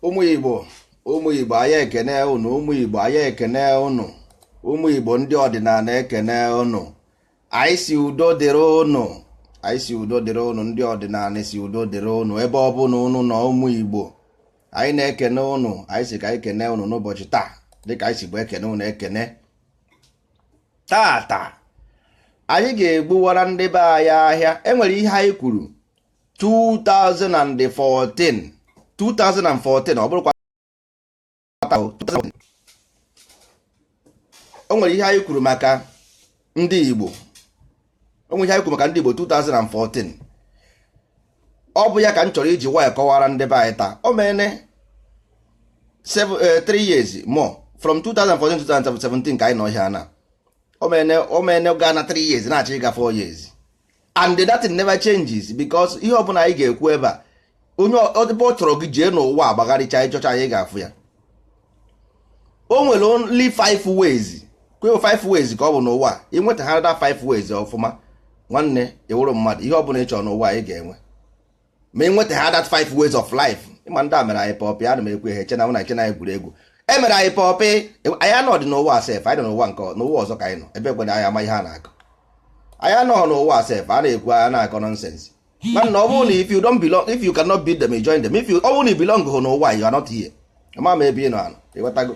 ụmụ igbo ụmụ igbo anyị ekene ụnụ ụmụ igbo anyị ekene ụnụ ụmụ igbo ndị ọdịnala ekene ụnụ anyị sị udo dịrị ụnụ anyị sị udo dịrị ụnụ ndị ọdịnala sị udo dịrị ụnụ ebe ọ bụla ụnụ nọ ụmụ igbo anyị na-ekene ụnụ anyị sị ka anyị kene ụnụ n'ụbọchị taa dịka anyị sibu ekene ụnụ ekene taata anyị ga-egbuwara ndị be anyị ahịa enwere ihe anyị kwuru 2014 2014 ọ bụrụkwa o nwere ihe anyị kwuru maka ndị Igbo o nwere ihe anyị kwuru maka ndị Igbo 2014 ọ bụ ya ka m chọrọ iji wee kọwara ndị be anyị taa o mene 3 eh, years more from 2014 2017 ka anyị nọ ihe a na o mene gaa na 3 years na-achọ ịga 4 years and that never changes because ihe ọbụla anyị ga-ekwu ebe a onye ebe ọ chọrọ gị jee n'ụwa gbagharịchaa ị chọchaa ị ga-afụ ya o nwere only five ways kweo five ways ka ọ bụ n'ụwa i nweta ha that five ways ọfụma nwanne ị wụrụ mmadụ ihe ọbụla ị chọrọ n'ụwa ị ga-enwe ma ị nweta ha that five ways of life ị ma ndị a mere anyị pọpị ana m ekwu ihe chena na chena anyị gwuru egwu e mere anyị pọpị anyị anọdị n'ụwa sef anyị nọ n'ụwa nke n'ụwa ọzọ ka anyị nọ ebe kwere anyị ama ihe a na-akọ anyị anọghị n'ụwa sef a na-ekwu anyị na-akọ nonsense mana ọ bụrụ na if you don't belong if you cannot beat them join them if you ọ bụrụ na ị belong hụ n'ụwa you are not here ama m ebe ị nọ anọ ị ghọtago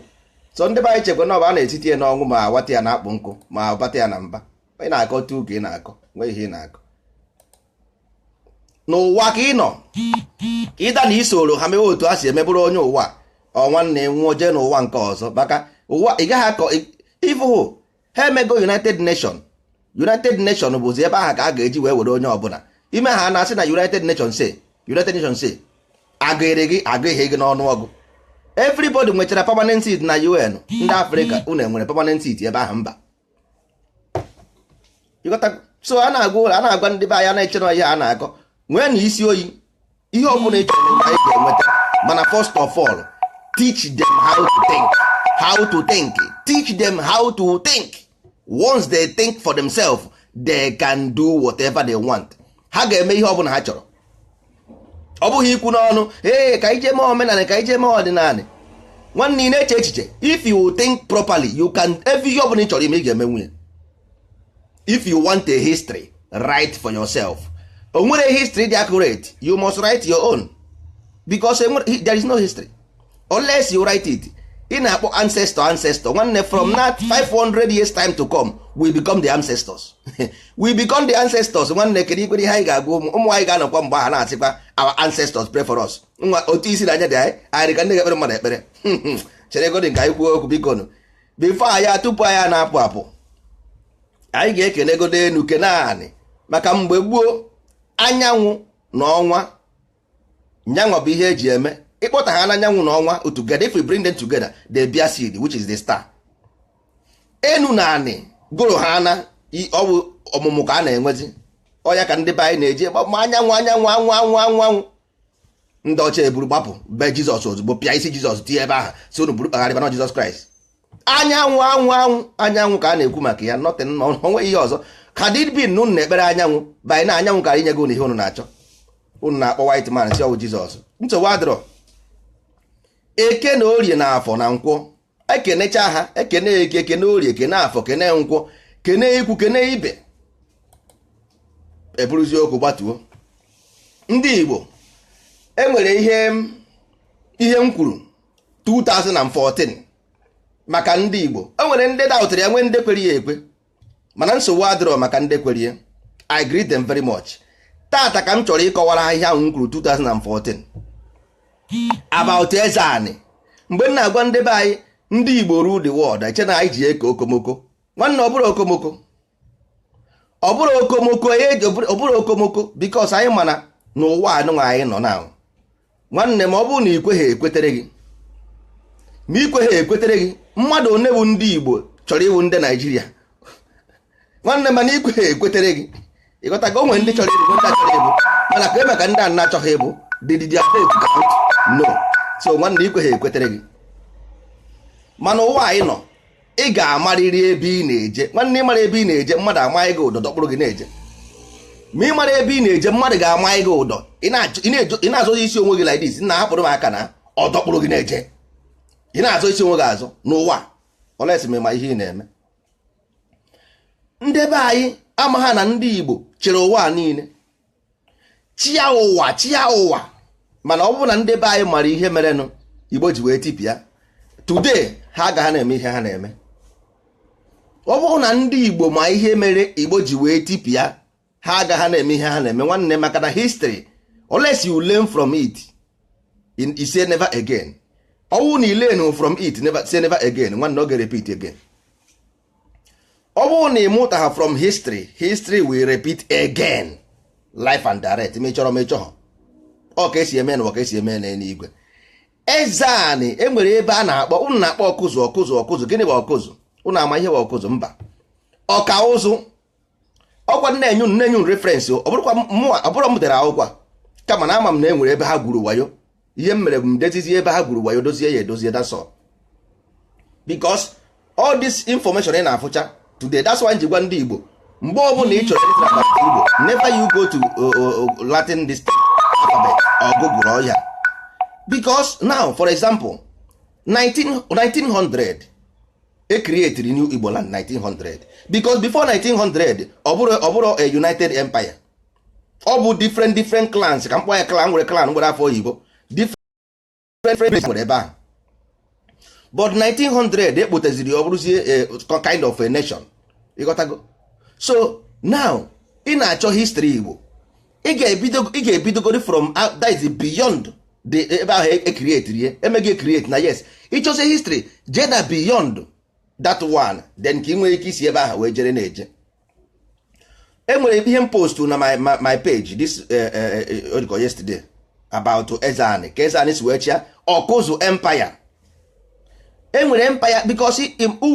so ndị be anyị chekwa na ọ bụ a na-etiti ya n'ọnwụ ma awata ya na akpụ nkụ ma abata ya na mba ị na-akọ tu ka ị na-akọ nwee ihe ị na-akọ n'ụwa ka ị nọ either na i soro ha mewe otu a si eme bụrụ onye ụwa or nwanne nwụọ jee n'ụwa nke ọzọ maka ụwa ị gaghị akọ ị fụhụ ha emego united nation united nation bụzi ebe ahụ ka a ga-eji wee were onye ọbụla i mee ha na-asị na united nation say united nation say agụghịrị gị agụghị gị n'ọnụọgụ everybody nwechara permanent seat na un ndị afrịka unu enwere permanent seat ebe ahụ mba so a na-agwa ụlọ a na-agwa ndị be anyị na-eche na ihe a na-akọ nwee na isi oyi ihe ọ bụla ị chọrọ n'ụwa ị ga-enweta mana first of all teach them how to think teach them how to think once they think for themselves they can do whatever they want ha ga-eme ihe ọ bụla ha chọrọ ọ bụghị ikwu n'ọnụ ee ka i je mee omenala ka i je mee ọdịnala nwanne ị na-eche echiche if you think properly you can every ihe ọbụla ị chọrọ ime ị ga-emenwu ya if you want a history write for yourself o nwere history dị accurate you must write your own because there is no history unless you write it ị na-akpọ ancestor ancestor nwanne from that 500 years time to come we become the ancestors we become the ancestors nwanne kedu ikwere ihe anyị ga-agwa ụmụ ụmụ anyị ga-anọkwa mgbe ahụ na-asịkwa our ancestors pray for us nwa otu isi na anya dị anyị anyị ka ndị ga-ekpere mmadụ ekpere chere godinụ ka anyị kwuo okwu biko nụ before anyị tupu anyị na-apụ apụ anyị ga-ekene godo enu kene anị maka mgbe gboo anyanwụ na ọnwa nya nwa bụ ihe eji eme ị kpọta ha na anyanwụ na ọnwa together if we bring them together they bear seed which is the star enu na anị gụrụ ha na ọ wụ ọmụmụ ka a na-enwezi ọ ya ka ndị be anyị na-eji ma anyanwụ anyanwụ anwụ anwụ anwụ anwụ ndị ọcha eburu gbapụ be jizọs ozugbo pịa isi jizọs tinye ebe ahụ sị unu buru kpagharịba na ọ jizọs kraịst anyanwụ anwụ anwụ anyanwụ ka a na-ekwu maka ya nothing o nwe ihe ọzọ had it been na ụnụ na-ekpere anyanwụ by now anyanwụ kara enyego ụnụ ihe ụnụ na-achọ ụnụ na-akpọ white man sị ọ wụ jizọs nsogbu adịrọ eke na orie na afọ na nkwọ ekenecha ha ekene eke kene orie kene afọ kene nkwọ kene ikwu kene ibe eburuzi okwu gbatuo ndị igbo e nwere ihe m kwuru 2014 maka ndị Igbo o nwere ndị daụtara ya nwee ndị kwere ya ekwe mana nsogbu adịrọ maka ndị kwere ya I greet them very much taata ka m chọrọ ịkọwara ha ihe ahụ m kwuru 2014 about eze anị mgbe m na-agwa ndị be anyị ndị Igbo rule the world e chee na anyị ji eko okomoko nwanne ọ bụrọ okomoko ọ bụrọ okomoko ọ bụrọ okomoko because anyị ma na n'ụwa anụnwa anyị nọ na nwanne m ọ bụrụ na i kweghị ekwetere gị ma i kweghị ekwetere gị mmadụ one bụ ndị Igbo chọrọ ịwụ ndị Naijiria nwanne m mana i kweghị ekwetere gị ị ghọta ka o nwere ndị chọrọ ịbụ ndị achọrọ ịbụ mana ka eme ka ndị a na-achọghị ịbụ did their vote count no so nwanne i kweghị ekwetere gị mana ụwa anyị nọ ị ga-amarịrị ebe ị na-eje nwanne ị marọ ebe ị na-eje mmadụ ama gị ụdọ dọkpụrụ gị na-eje ma ị mara ebe ị na-eje mmadụ ga-ama gị ụdọ ị na-azọ isi onwe gị like this nna hapụrụ m aka na ọ dọkpụrụ gị na-eje ị na-azọ isi onwe gị azọ n'ụwa unless ị ma ihe ị na-eme ndị be anyị amaghị na ndị Igbo chịrị ụwa niile chịa ụwa chịa ụwa mana ọ bụrụ na ndị be anyị mara ihe merenụ igbo ji wee tipịa today ha agaghị na-eme ihe ha na-eme ọ bụrụ na ndị igbo ma ihe mere igbo ji wee tipịa ha agaghị na-eme ihe ha na-eme nwanne maka na history unless you learn from it and say never again ọ bụrụ na ị learn from it never say never again nwanne ọ ga-repeat again ọ bụrụ na ịmụtaha from history history will repeat again live and direct mechọrọ mechọ ha ọ ka esi eme n'ụwa ka esi eme n'eluigwe eze anị enwere ebe a na-akpọ ụnụ na-akpọ ọkụzụ ọkụzụ ọkụzụ gịnị bụ ọkụzụ ụnụ ama ihe bụ ọkụzụ mba ọka ụzụ ọkwa m na-enye unu na-enye unu reference ọ bụrọkwa mụwa ọ bụrọ m dere akwụkwọ a, kama na ama m na e nwere ebe ha gwuru wayo ihe m mere bụ m dezizie ebe ha gwuru wayo dozie ya edozie that's all because all this information ị na-afụcha today that's why m ji gwa ndị Igbo mgbe ọbụla ị chọrọ ịlearn about Igbo never you go to uh, uh, uh, Latin this alphabet or Google or ya because now for example 19, 1900 ekrietiri new Igbo land 1900 because before 1900 ọ bụrọ ọ bụrọ a united empire ọ bụ different different clans ka m kpọọ ya clan m were clan m were afa oyibo different place nwere ebe ahụ but 1900 ekpoteziri ọ bụrụzie eh, kind of a nation ịghọtago so now ị na-achọ history Igbo ị ga-ebidogori from that is beyond the ebe ahụ ekrietiri e ya emeghị ekrieti na yes ịchọsi history jeda beyond that one then ka ị nwere ike isi ebe ahụ wee jere na-eje enwere ihe m postu na my, my, my page this uh, uh, uh, yesterday about Ezani ka Ezani si wee chịa ọkụzụ empire enwere empire because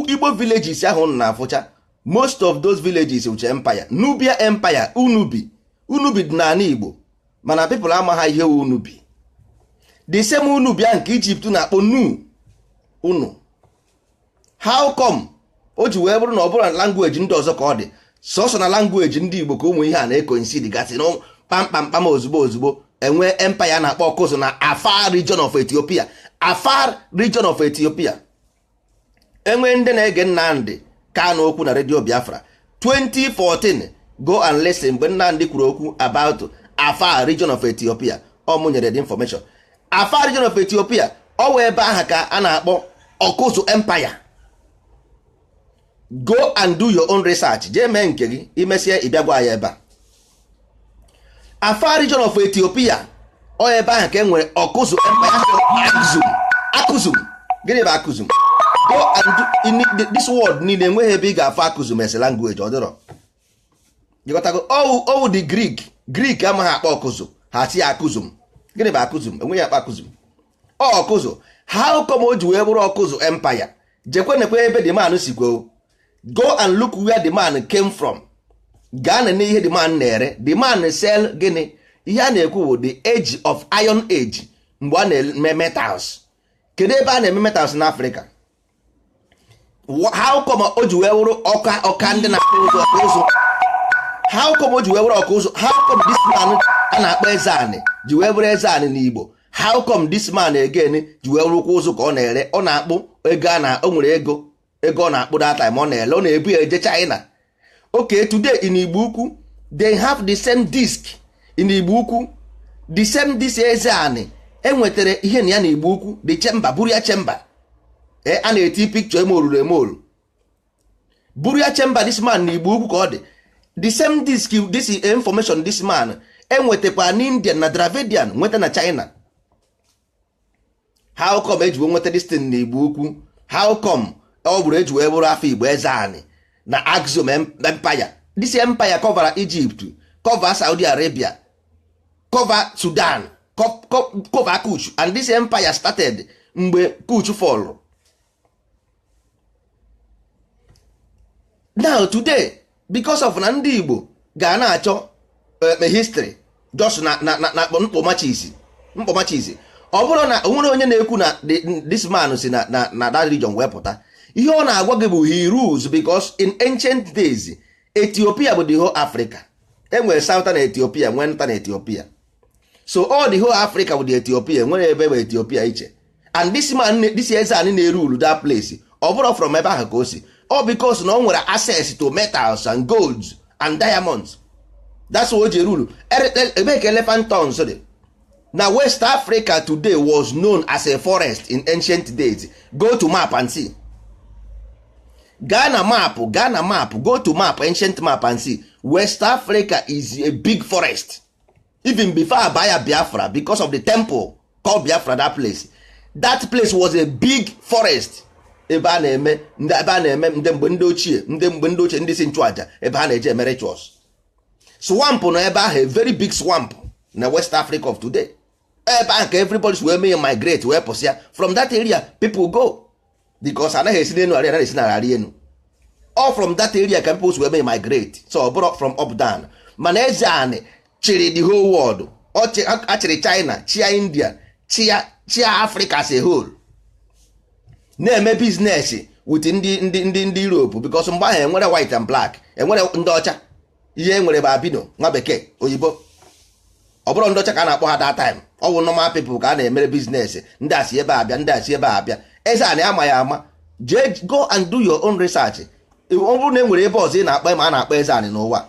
Igbo villages ahụ na-afụcha most of those villages wucha empire nubia empire unubi unubi dị n'ala igbo mana people amaghị ihe wu unubi the same unubi ahụ nke Egypt na-akpọ nu unu how come o ji wee bụrụ na ọ bụrọ na language ndị ọzọ ka ọ dị sọsọ na language ndị igbo ka ụmụ ihe a na-ekoinsidi gasị na kpamkpamkpam ozugbo ozugbo enwee empire na-akpọ ọkụzụ na afar region of ethiopia afar region of ethiopia enwere ndị na-ege Nnamdị Kanu okwu na redio Biafra 2014 go and listen mgbe Nnamdị kwuru okwu about Afar region of Ethiopia ọ mụ nyere the information Afar region of Ethiopia ọ wụ ebe aha ka a na-akpọ Ọkụzụ empire go and do your own research jee mee nke gị imesịa ịbịa gwa ya ebe a Afar region of Ethiopia ọ ebe ahụ ka e nwere ọkụzụ akụzum akụzum gịnị bụ akụzum go and do in the- this world niile enweghị ebe ị ga-afụ akụzum as a language ọ dịrọ ịghọtago ọ wụ ọ wụ the Greek Greek amaghị akpọ ọkụzụ ha sị akụzum gịnị bụ akụzum enweghị akpọ akụzum ọkụzụ how come o ji wee bụrụ ọkụzụ empire jekwa nekwa ebe the man sikwa o go and look where the man came from gaa nenee ihe the man na-ere the man sell gịnị ihe a na-ekwu bụ the age of iron age mgbe a na-eme metals kedu ebe a na-eme metals n'afrịka how come o ji wee wụrụ ọka ọka ndị na-akpụ ụzụ ọka ụzụ how come o ji wee wụrụ ọka ụzụ how come this man a na-akpọ eze anị ji wee wụrụ eze anị n'Igbo how come this man again ji wee wụrụkwa ụzụ ka ọ na-ere ọ na-akpụ ego na o nwere ego ego ọ na-akpụ that time ọ na-ele ọ na-ebu ya eje China okay today in igbo ukwu they have the same disk in igbo ukwu the same disk eze anị enwetara ihe na ya na igbo ukwu the chamber burial chamber ee a na-eti picture eme oruru eme oru burial chamber this man na igbo ukwu ka ọ dị the same disk this information this man enwetakwa na indian na dravidian nweta na china how come eji wee nweta this thing na igbo ukwu how come ọ bụrụ eji wee bụrụ afọ igbo eze anị na axum empire this empire cover egypt cover saudi arabia cover sudan cover kush and this empire started mgbe kush fall now today because of na ndị Igbo ga na-achọ eh, history just na na na mkpọmachisi mkpọmachisi ọ bụrụ na onwere onye na-ekwu na this man si na na na that region wee pụta ihe ọ na-agwa gị bụ he rules because in ancient days Ethiopia bụ the whole Africa enwere southern Ethiopia nwee northern Ethiopia so all the whole africa bụ the ethiopia nwere ebe bụ ethiopia iche and this man this eze anị na-erule that place ọ bụrụ from ebe ahụ ka o si all because na o nwere access to metals and golds and diamonds that's why o ji rule ebe ka elephant tusks dị now west africa today was known as a forest in ancient days go to map and see gaa na map gaa na map go to map ancient map and see west africa is a big forest even before a baa ya biafra because of the temple called biafra that place that place was a big forest ebe a na-eme ebe a na-eme ndị mgbe ndị ochie ndị mgbe ndị ochie ndị isi nchụaja ebe ha na-eje eme rituals swamp nọ ebe ahụ a very big swamp na west africa of today ebe ahụ ka everybody wee mee migrate wee pụsịa from that area people go because anaghị esi n'elu arị anaghị esi n'ala arị enu all from that area ka people wee mee migrate so ọ bụrụ from up down mana eze anị chịrị the whole world a chịrị China chịa India chịa chịa Africa as a whole na-eme business with ndị ndị ndị Europe because mgbe ahụ enwere white and black enwere ndị ọcha ihe e nwere bụ albino nwa bekee oyibo ọ bụrọ ndị ọcha ka a na-akpọ ha that time ọ bụ normal people ka a na-emere business ndị a si ebe a bịa ndị a si ebe a bịa eze anị a ma ya ama jee go and do your own research ọ bụrụ na e nwere ebe ọzọ ị na-akpọ ma a na-akpọ eze anị n'ụwa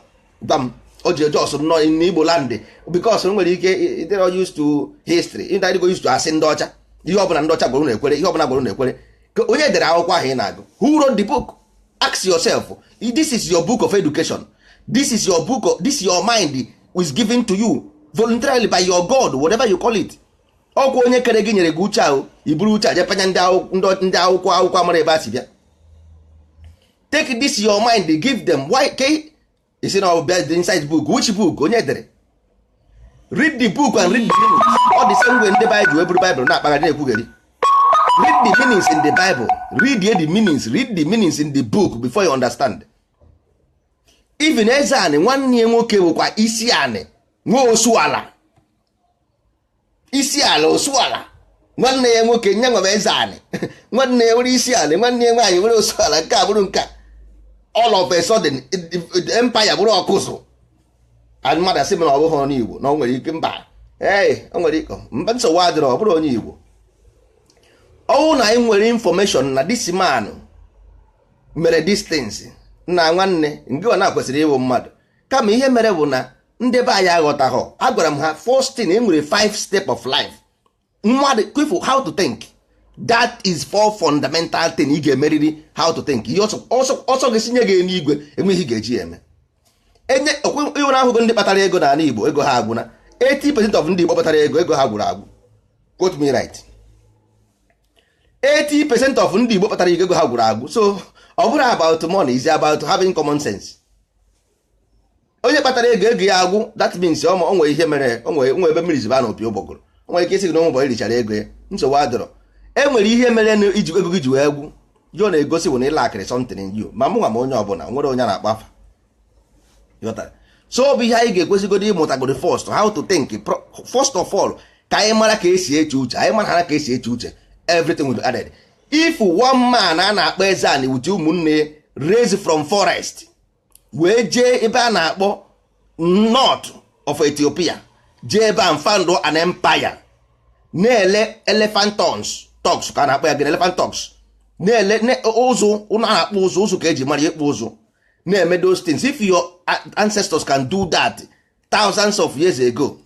gwa m o ji eje ọsụ nọ n'igbo land because nwere ike ị dịrọ used to history ị dịgo used to asị ndị ọcha ihe ọbụla ndị ọcha gwara na-ekwere ihe ọbụla gwara na-ekwere onye dere akwụkwọ ahụ ị na-agụ who wrote the book ask yourself this is your book of education this is your book of, this your mind is given to you voluntarily by your god whatever you call it ọkwa onye kere gị nyere gị uche ahụ i buru uche a je panye ndị akwụkwọ akwụkwọ amarọ ebe o si bịa take this your mind give them why ị sị na ọ bụ ihe dị inside book which book onye dere read the book and read the meaning ọ dị same way ndị Bible wee buru Bible na-akpagharị na-ekwugheri read the meanings in the Bible read the meanings read the meanings in the book before you understand even eze anị nwanne ya nwoke bụkwa isi anị nwe osu ala isi ala osu ala nwanne ya nwoke e nwere eze anị nwanne ya nwere isi ala nwanne ya nwaanyị nwere osu ala nke a bụrụ nke a all of a sudden empire bụrụ ọkpụ ụzụ and mmadụ asị m na ọ bụghị onye Igbo na o nwere ike mba ee o nwere ike mba nsogbu adịrọ ọ bụrọ onye Igbo ọ wụ na anyị nwere information na this man mere distance na nwanne nke ọ na-akwesịrị ịwụ mmadụ kama ihe mere bụ na ndị be anyị aghọtaghọ agwara m ha first thing e nwere five step of life mmadụ kwefụ how to think that is four fundamental thing ị ga-emeriri how to think ihe ọsọ gị sinye gị n'igwe enweghị ga-eji eme enye iwere ahụgo ndị kpatara ego n'ala Igbo ego ha agwụna 80 percent of ndị Igbo kpatara ego ego ha gwụrụ agwụ quote me right 80 percent of ndị Igbo kpatara ego ha gwụrụ agwụ so ọ bụrọ about money it's about having common sense onye kpatara ego ego ya agwụ that means o nwere ihe mere o nwe ebe mmiri si ba na opi ụgbọgụrụ o nwere ike ị sị gị na ụmụ richara ego ya nsogbu adịrọ e nwere ihe mere na iji ego gị ji wee gwụ ihe ọ na-egosi bụ na ị lackịrị something in you ma mụnwa ma onye ọbụla nwerọ onye m na-akpọ afa so ọ bụ ihe anyị ga-ekwesịgodo ịmụtagodo first how to think first of all ka anyị mara ka e si eche uche anyị mara ka e si eche uche everything will be added if one man a na-akpọ eze anị with ụmụnne ya raise from forest wee jee ebe a na-akpọ north of ethiopia jee ebe a found an empire na-ele elephant tons tusk ka a na-akpọ ya gịnị elephant tusk na-ele ne- ụzụ ụnụ a na-akpọ ụzụ ụzụ ka e ji mara ya ịkpụ ụzụ na-eme those things if your a- ancestors can do that thousands of years ago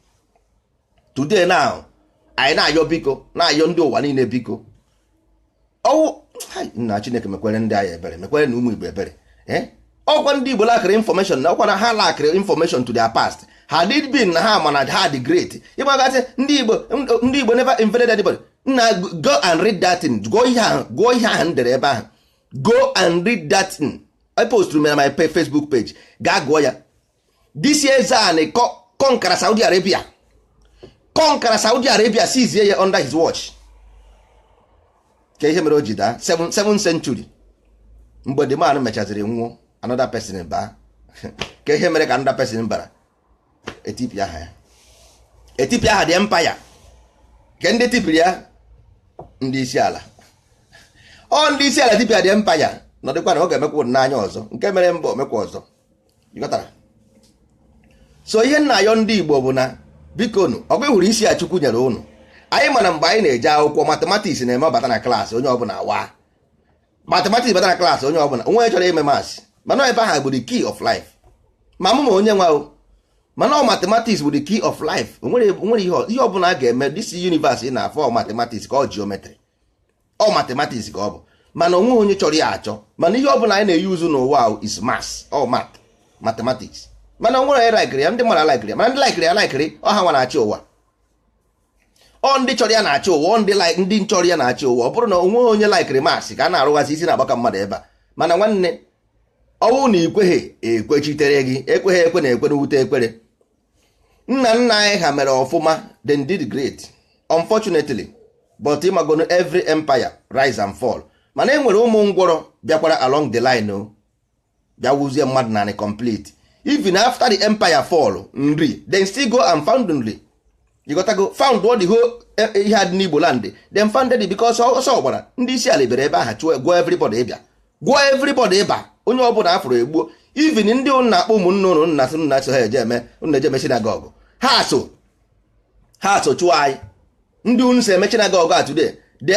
today now anyị na-ayọ biko na-ayọ ndị ụwa niile biko ọwụ nna chineke mekwere ndị anyị ebere mekwere na ụmụ igbo ebere eh? ọkwa ndị igbo lakịrị information na ọkwa na ha lakịrị information to their past had it been na ha ma na ha dị great ịgbagazi ndị igbo ndị igbo never invaded anybody nna go and read that thing gụọ ihe ahụ gụọ ihe ahụ m dere ebe ahụ go and read that thing i post na my facebook page gaa gụọ ya this eze anị kọnkara Saudi Arabia kọnkara Saudi Arabia seize ya under his watch ka ihe mere o ji daa 7 century mgbe the man mechaziri nwụọ another person baa ka ihe mere ka another person bara etipịa ha ya etipịa ha the empire nke ndị tipịrị ya ndị Islam ọ ndị Islam tipịa the empire nọdụkwa na ọ ga-emekwa n'anya ọzọ nke mere mbụ o mekwa ọzọ so ihe m na-ayọ ndị Igbo bụ na bikonụ ọgụ hụrụ isi a Chukwu nyere ụnụ anyị ma na mgbe anyị na-eje akwụkwọ mathematics na-eme ọ bata na class onye ọbụla awa mathematics bata na class onye ọbụla onweghị chọrọ ime maths mana ebe ahụ bụ the key of life ma mụ ma onye nwa o ma na ọ mathematics bụ the key of life onwere ihe ọbụla a ga-eme this universe ị na-afọ mathematics ka ọ geometry ọ mathematics ka ọ bụ mana onweghị onye chọrọ ya achọ mana ihe ọbụla anyị na-eyuzu n'ụwa is maths ọ mat mathematics mana o nwere onye laikiri ya ndị mara laikiri ya mana ndị laikiri ya laikiri ọ ha nwa na-achị ụwa ọ ndị chọrọ ya na-achị ụwa ndị ndị chọrọ ya na-achị ụwa ọ bụrụ na onweghị onye laikiri maths ka a na-arụghazi isi na-agbaka mmadụ ebe a mana nwanne ọ wụ na ikweghị ekwechitere gị ekweghị ekwe na ekwe na ewute ekwere nna nna anyị ha mere ọfụma they did great unfortunately but ị magonu every empire rise and fall mana e nwere ụmụ ngwọrọ bịakwara along the line o bịa wuzie mmadụ nanị complete even after the empire fall Nri they still go and found Nri you gotta go found what the whole eh, eh, ihe a dị n'Igbo land they founded it because ọsọ gbara ndị Islam bere ebe a ha chụọ gwọọ everybody ịba gwọọ everybody ịba onye ọbụla a fụrụ e gbuo even ndị ụnụ na-akpọ ụmụnne ụnụ nna sị nna so ha eje eme ụnụ eje eme synagogue ha so ha so chụọ anyị ndị ụnụ si eme synagogue a today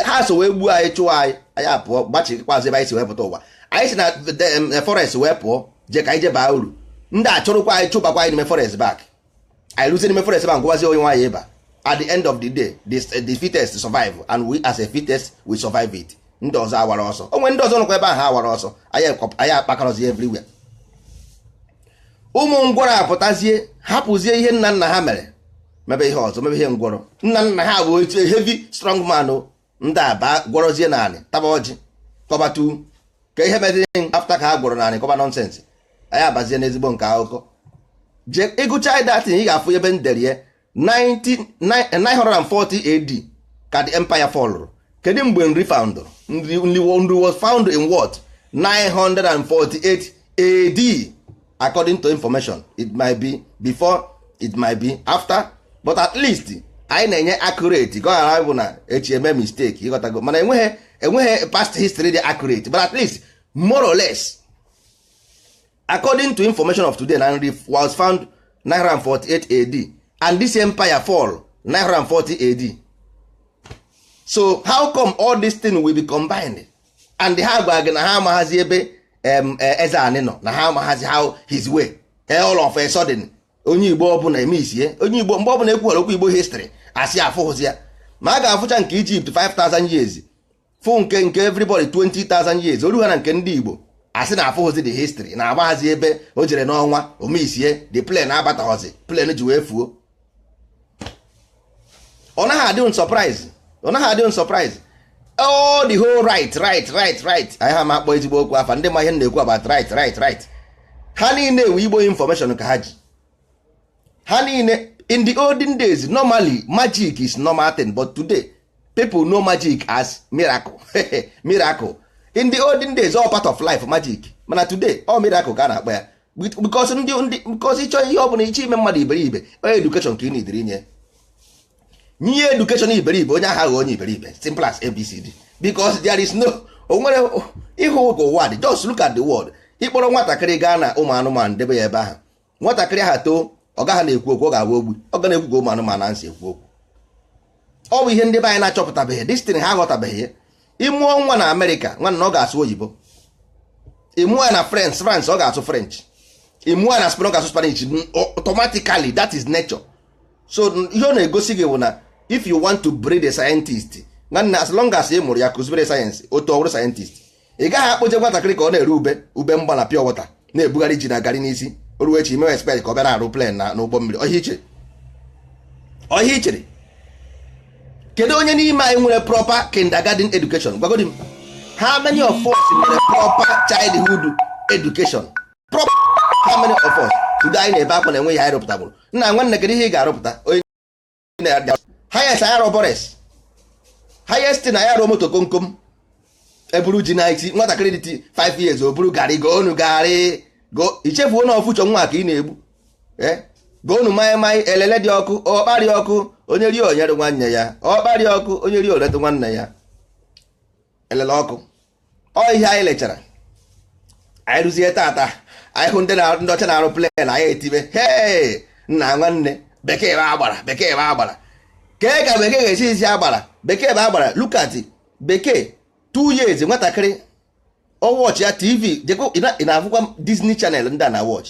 ha so wee gbuo anyị chụọ anyị anyị apụọ gbachikwazi ebe anyị si wee pụta ụwa anyị si na forest wee pụọ je ka anyị je baa uru ndị achụrụkwa anyị chụbakwa anyị n'ime forest back anyị ruzie n'ime forest ma ngwazi onye nwaanyị ịba at the end of the day the, the fittest survive and we as a fittest we survive it ndị ọzọ awara ọsọ o nwere ndị ọzọ nọkwa ebe ahụ awara ọsọ anyị akpakọrọzi everywhere ụmụ ngwọrọ apụtazie hapụzie ihe nna nna ha mere mebe ihe ọzọ mebe ihe ngwọrọ nna nna ha bụ heavy strong man ndị a ba gwọrọzie n'anị taba ọjị kọbatu ka ihe meziri after ka ha gwọrọ n'anị kọba nonsense anyị abazie n'ezigbo nke akụkọ je ị gụchaa that thing ị ga-afụ ebe m dere ya 940 AD ka the empire fọlụrụ kedu mgbe nri foundụrụ nri was found in what 948 AD according to information it might be before it might be after but at least anyị na-enye accurate ka ọ ghara bụ na echi eme mistake ị ghọtago mana enweghị enweghị past history dị accurate but at least more or less according to information of today na nri was found 948 AD and this empire fall 940 AD so how come all this thing will be combined and ha gwa gị na ha amaghazi ebe e, eze nri nọ na ha amaghazi how his way e, all of a sudden onye igbo ọbụla eme isie onye igbo mgbe ọbụla e kwuwara okwu igbo history a sị afụghịzi ya ma a ga-afụcha nke egypt 5000 years fụ nke nke everybody 20000 years o ru ha na nke ndị igbo a sị na afụghịzi the history na amaghazi ebe o jere n'ọnwa omeisie the plane abataghọzi plane ji wee fuo ọ naghị adị unu surprise ọ naghị adị unu surprise all the whole right right right right anyị ha ma akpọ ezigbo okwu afa ndị ma ihe na-ekwu about right right right ha niile ewe igbo information ka ha ji ha niile in the olden days normally magic is normal thing but today people know magic as miracle miracle in the olden days ọọ part of life magic mana today ọọ miracle ka a na-akpọ ya because ndị ndị because ị chọọ ihe ọ bụla ị chọ ime mmadụ iberibe onye education ka ị na-ediri ị nye ya education iberibe onye ahụ aghọọ onye iberibe simple as abcd because there is no o nwere ịhụ ka ụwa dị just look at the world ị kpọrọ nwatakịrị gaa na ụmụ anụmanụ debe ya ebe ahụ nwatakịrị ahụ too ọ gaghị na-ekwu okwu ọ ga-abụ ogbu ọ ga na-ekwu ka ụmụ anụmanụ na-esi ekwu okwu ọ bụ ihe ndị be anyị na-achọpụtabeghị this thing ha aghọtabeghị ya ị mụọ nwa na america nwanna ọ ga-asụ oyibo ị mụọ ya na france ọ ga-asụ french ị mụọ ya na spain ọ ga-asụ spanish automatically that is nature so ihe ọ na-egosi gị bụ na if you want to breed a scientist nwanna as long as ị mụrụ ya kụzibere ya science o too ọ bụrụ scientist ị gaghị akpọje nwatakịrị ka ọ na-ere ube ube mgba na pure water na-ebugharị ji na garị n'isi o ruo echi ị mewe expect ka ọ bịara arụ plane na ụgbọ mmiri ọọ ihe i chere ọọ ihe i chere kedu onye n'ime anyị nwere proper kindergarten education gwagodi m how many of us nwere proper childhood education proper how many of us today anyị na-ebe akwa na enweghị ihe anyị rụpụtaburu nna nwanna kedu ihe ị ga-arụpụta onye highest anyị arụọ boris highest na anyị arụọ moto komkom e buru ji n'isi nwatakịrị dị 5 years o buru garị goonụ garị go i chefuo na ọ future nwa ka ị na-egbu eh? goonụ maị maị elele dị ọkụ ọkpa dị ọkụ onye rie o nyere nwanne ya ọkpa dị ọkụ onye rie o lote nwanne ya elele ọkụ ọ ihe anyị lechara anyị ruzie taata anyị hụ ndị ọcha na-arụ plane anyị etibe hee nna nwanne bekee bụ agbara bekee bụ agbara kee ka bekee ga-esi isi agbara bekee bụ agbara look at bekee two years nwatakịrị ọ watchịa TV ị na-afụkwa Disney Channel ndị a na watch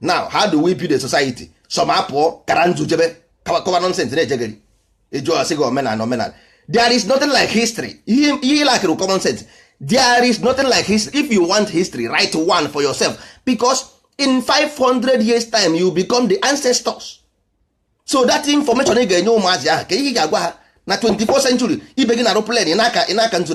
now how do we build a society some apụọ kara nzu jebe kọwa nonsense na-ejegharị ị jụọ ọ sị gị omenala omenala there is nothing like history ihe ị lackịrị common sense there is nothing like history if you want history write one for yourself because in 500 years time you become the ancestors so that information ị ga-enye ụmụazị ahụ kee ihe ị ga-agwa ha na 24th century ibe gị na-arụ plane ị na-aka nzu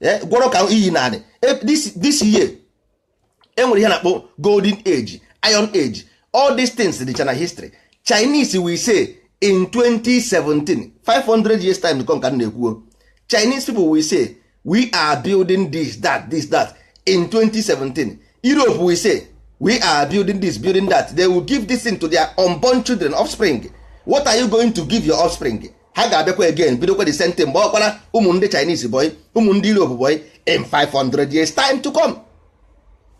eh, gwọrọ ka iyi na anị eh, this year enwere ihe na-akpọ golden age iron age all these things dịcha na history chinese we say in 2017 500 years time come ka na-ekwuo chinese people we say we are building this that this that in 2017 europe we say we are building this building that they will give this thing to their unborn children offspring what are you going to give your offspring ha ga-abịakwa again bidokwa the same thing gbawakwara ụmụ ndị Chinese boy ụmụ ndị Europe boy in 500 years time to come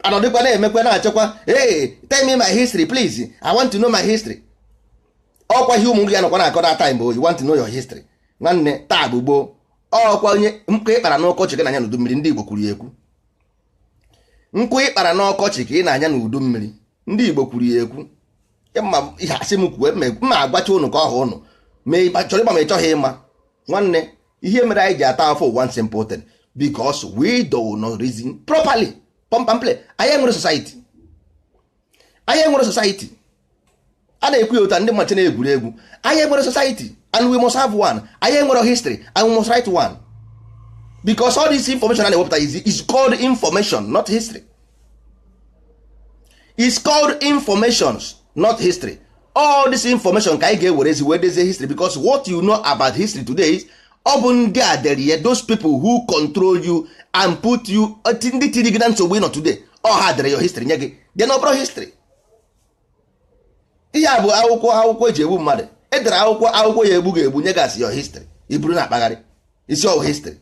anọdịkwa na-emekwa na-achọkwa hey tell me my history please I want to know my history ọkwa ihe ụmụ gị ga-anọkwa na-akọ that time bụ you want to know your history nwanne taa bụ gboo ọkwa onye nkụ ị kpara n'ọkọchị ka ị na-anya n'udu mmiri ndị Igbo kwuru ya ekwu nkụ ị kpara n'ọkọchị ka ị na-anya n'udu mmiri ndị Igbo kwuru ya ekwu ị ma ihe a sị m kwuo m ma-agwacha ụnụ ka ọ ha ụnụ ma ị chọrọ ịma ma ị chọghị ịma nwanne ihe mere anyị ji ata afụfụ one simple thing because we do not reason properly pump and plain anyị enwerọ society anyị enwerọ society a na-ekwu ya ụta ndị mmachi na-egwuri egwu anyị enwerọ society and we must have one anyị enwerọ history and we must write one because all this information a na-ewepụta is called information not history is called informations not history all this information ka anyị ga-ewerezi wee dezie history because what you know about history today is ọ bụ ndị a dere ya those people who control you and put you ndị tiri gị na nsogbu ị nọ today ọ ha dere your history nye gị then ọ bụrụ history ihe a bụ akwụkwọ akwụkwọ e ji egbu mmadụ e dere akwụkwọ akwụkwọ ya-egbu gị egbu nye gị sị your history i buru na-akpagharị ị sị ọ wụ history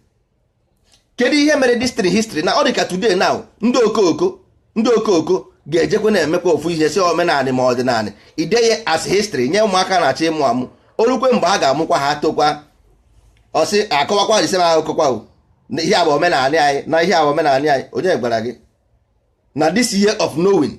kedu ihe mere history history na ọ dị ka today now ndị okooko ndị okooko ga-ejekwa na-emekwa ofu ihe sị omenanị ma ọdịnanị i dee ya as history nye ụmụaka na-achọ ịmụ amụ o rukwe mgbe a ga-amụkwa ha tokwa ọ sị akọwakwa the same akụkọ kwa ihe a bụ omenanị anyị na ihe a bụ omenanị anyị onye gwara gị na this year of knowing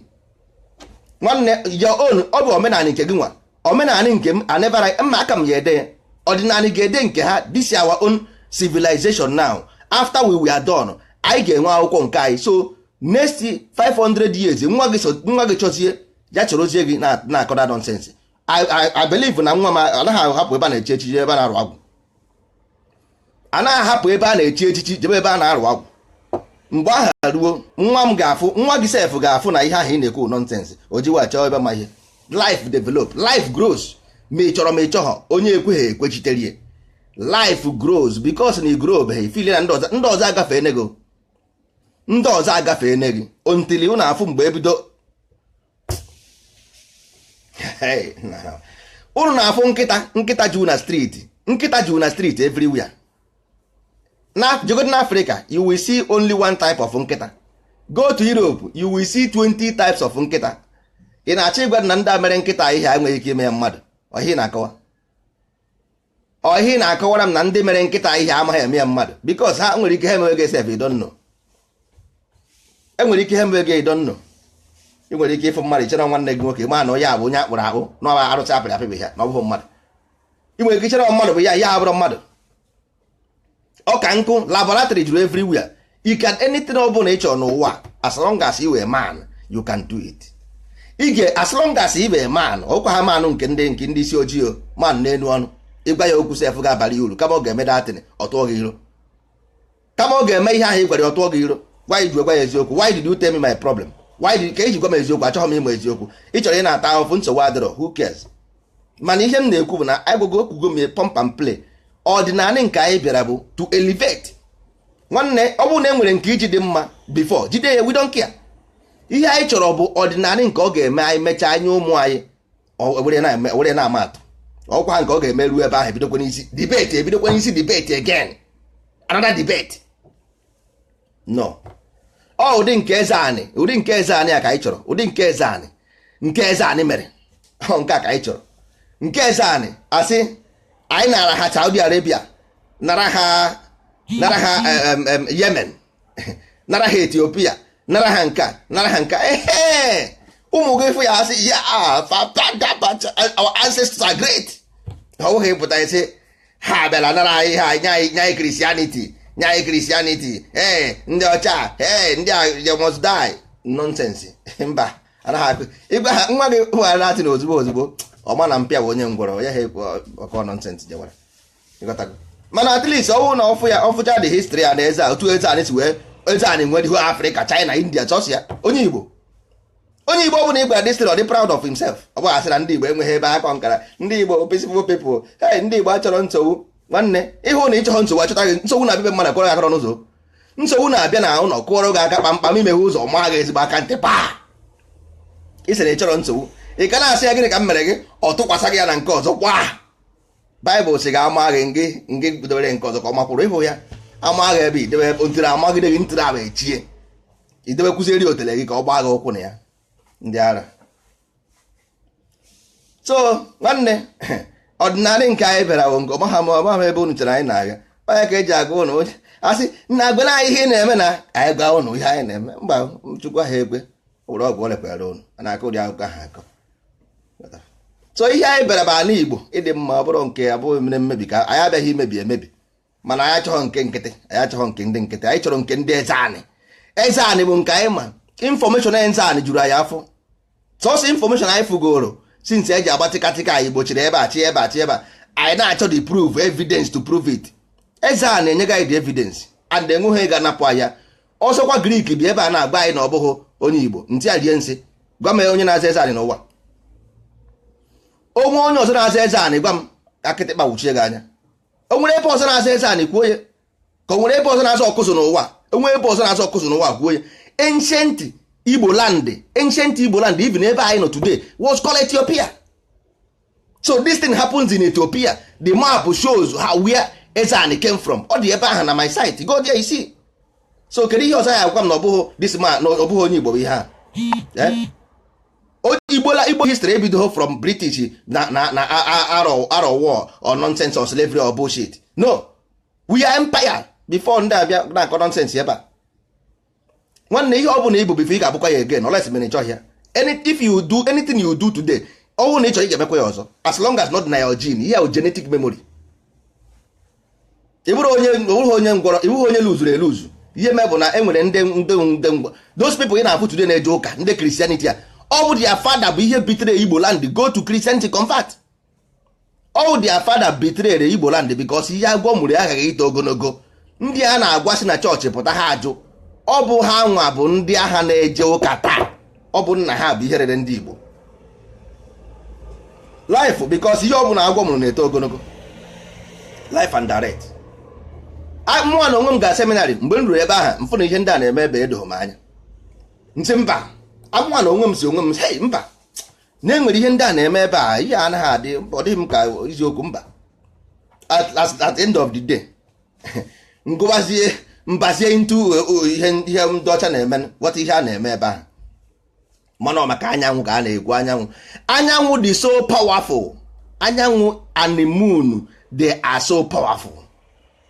nwanne your own ọ bụ omenanị nke gịnwa omenanị nke m anebara mma aka m ya ede ọdịnanị ga-ede nke ha this is our own civilization now after we were done anyị ga-enwe akwụkwọ nke anyị so next 500 years nwa gị chọzie ya chọrọzie gị na-akọda nonsense I believe na nwa m anaghị ahapụ ebe a na-echi echichi ebe a na-arụ agwụ anaghị ahapụ ebe a na-echi echichi jebe ebe a na-arụ agwụ mgbe ahụ ruo nwa m ga-afụ nwa gị sef ga-afụ na ihe ahụ ị na-ekwu nonsense o jiwa chọọ ebe ma ihe life develop life grows ma ị chọrọ ma ị chọghọ onye ekweghị ekwechitere ya life grows because na ị grow beghị feel na ndị ọzọ agafe enego ndị ọzọ agafe eneghị until unu afụ mgbe ebido unu na-afụ nkịta nkịta juu na street nkịta juu na street everywhere na jegodi na Africa you will see only one type of nkịta go to Europe you will see 20 types of nkịta ị na-achọ ịgwa na ndị a mere nkịta ihe enweghị ike ime ya mmadụ ọ ihe ị na-akọwa ọ ihe ị na-akọwara m na ndị mere nkịta ihe amaghị eme ya mmadụ because ha nwere ike ha emewe gị sef ị don't know e nwere ike ha emewe gị ị don't know ị nwere ike ịfụ mmadụ ị chere nwanne gị nwoke ma na onye a bụ onye a kpụrụ akpụ na ọ bụ arụsị a pịrị apị bụ ya na ọ bụghị mmadụ ị nwere ike iche mmadụ bụ ya ya abụrọ mmadụ ọ ka nkụ laboratory juru everywhere you can anything ọ bụla ị chọrọ n'ụwa as long as you a man you can do it ị ga as long as ị bụ a man ọkwa ha manụ nke ndị nke ndị isi ojii o man n'elu ọnụ ịgwa ya okwu sef ga-abara ya uru kama ọ ga-eme that thing ọ tụọ gị iro kama ọ ga-eme ihe ahụ ị gwara ya ọ tụọ gị iro why i ji gwa ya eziokwu why did you tell me my problem why did ka i ji gwa m eziokwu achọghị m ịma eziokwu ị chọrọ ịna-ata ahụfụ nsogbu adịrọ who cares mana ihe m na-ekwu bụ na agwago ekwugo m pump and plain ọdịnanị nke anyị bịara bụ to elevate nwanne ọ bụrụ na e nwere nke i ji dị mma before jide ya we don't care ihe anyị chọrọ bụ ọdịnanị nke ọ ga-eme anyị mechaa anyị ụmụ anyị were na-ama atụ ọkwa nke ọ ga-eme ruo ebe ahụ ebidokwa n'isi debate ebidokwa n'isi debate again another debate no ọ ụdị nke Ezeanị ụdị nke Ezeanị a ka anyị chọrọ ụdị nke Ezeanị nke Ezeanị mere ọ nke a ka anyị chọrọ nke Ezeanị a sị anyị nara ha Saudi Arabia nara ha nara ha Yemen nara ha Ethiopia nara ha nka nara ha nka ehe ụmụ gị fụ ya a sị ya ah, our ancestors are great ọ bụghị pụta ise ha abịala nara anyị ha nye anyị nye anyị christianity nye anyị christianity ee ndị ọcha ee ndị a they must die nonsense mba anaghị akụ ịgwa ha nwa gị nwere na-atị na ozugbo ozugbo ọ ma na mpa ya bụ onye ngwọrọ ya ha ekwu ọkọ nonsense jewara ịghọtago mana at least ọ wụ na ọ fụ ya ọ fụcha the history ya na eze a otu ezeanị si wee ezeanị nwediho africa china india chọsịa onye igbo onye igbo ọbụla ị gwara this story ọ dị proud of himself ọ bụ a sị na ndị igbo enweghị ebe akọ nkara ndị igbo peaceful people hey ndị igbo achọrọ nsogbu nwanne ị hụ na ị chọghị nsogbu achọta gị nsogbu na-abịa mmadụ kụọrọ gị aka n'ụzọ nsogbu na-abịa na ụlọ kụọrọ gị aka kpamkpam i meghe ụzọ maa gị ezigbo aka ntị paa ị sịrị ị chọrọ nsogbu ị ka na-asị ya gịnị ka m mere gị ọ tụkwasị gị ya na nke ọzọ kwa baịbụl sị gị a maa gị ngị ngị bidobere nke ọzọ ka ọ makwụrụ ị hụ ya a maa gị ebe i debe ntị amagide gị ntị ahụ echie i debe kwụzieri otele gị ka ọ gbaa gị ụkwụ na ya ndị ara so nwanne ọdịnala nke anyị bịara bụ nke ọmaha ma ọmaha ebe unu chere anyị na-aga onye ka e ji agwa ụnụ onye asị na agwala anyị ihe ị na-eme na anyị gwa ụnụ ihe anyị na-eme mba chukwu ha ekwe ụlọ ọgwụ ọ lekwara ụnụ a na-akọ ụdị akụkọ ahụ akọ so ihe anyị bịara bụ ala igbo ịdị mma ọ bụrụ nke abụghị mere mmebi ka anyị abịaghị imebi emebi mana anyị achọghọ nke nkịtị anyị achọghọ nke ndị nkịtị anyị chọrọ nke ndị ezeanị ezeanị bụ nke anyị ma information ezeanị juru anyị afọ sọsọ information anyị fụgoro since e ji agba tịkatịka anyị gbochiri ebe a chi ebe a chi ebe a anyị na-achọ the proof evidence to prove it ezeanị enye gị the evidence and enweghị ga-anapụ anyị ya ọzọkwa greek bi ebe a na-agwa anyị na ọ bụghị onye igbo ntị a rie nsị gwa m onye na-aza ezeanị n'ụwa o nwe onye ọzọ na-aza ezeanị gwa m ka kịtịkpa wuchie gị anya o nwere ebe ọzọ na-aza ezeanị kwuo ya ka o nwere ebe ọzọ na-aza ọkụzụ n'ụwa o nwe ebe ọzọ na-aza ọkụzụ n'ụwa kwuo ya ancient igbo land ancient igbo land even ebe anyị nọ today was called ethiopia so this thing happens in Ethiopia the map shows how where Ezeanị came from ọ dị ebe ahụ na my site go there you see so kedu ihe ọzọ ị ya-agwa m na ọ bụghị this man na ọ bụghị onye Igbo bụ ihe a eh? igbola igbo history ebidoghị from british na na na arọ war or nonsense or slavery or bullshit no we are empire before ndị a bịa na-akọ nonsense ebe a nwanne ihe ọ bụla ị bụ before ị ga-abụkwa ya again unless ma ị chọghị ya if you do anything you do today ọ bụrụ na ị chọọ ị ga-emekwa ya ọzọ as long as ọ nọ na your gene ihe ahụ genetic memory ị bụrụ onye ị bụrụ onye ngwọrọ ị bụrụ onye luzuru eluzu ihe mee bụ na e nwere ndị ndị ndị ngwa those people ị na-afụ today na-eje ụka ndị christianity a ọ bụ their father bụ ihe betray igbo land go to christianity convert all their father betrayed igbo land because ihe agwọ mụrụ aghaghị ito ogologo ndị a na-agwa si na chọọchị pụta ha ajụ ọ bụ ha nwa bụ ndị ahụ na-eje ụka taa ọ bụ nna ha bụ ihe rere ndị igbo life because ihe ọ bụla agwọ mụrụ na-eto ogologo life and direct mụnwa na onwe m ga seminary mgbe m ruru ebe ahụ m fụ na ihe ndị a na-eme ebe edoghị m anya m sị mba mụnwa na onwe m sị onwe m hei mba na enwere ihe ndị a na-eme ebe a ihe anaghị adị ọ dịghị m ka eziokwu mba at the end of the day m gụwazie m bazie into ihe ihe ndị ọcha na-eme ghọta ihe a na-eme ebe ahụ mana maka anyanwụ ka a na-ekwu anyanwụ anyanwụ dị so powerful anyanwụ and the moon they are so powerful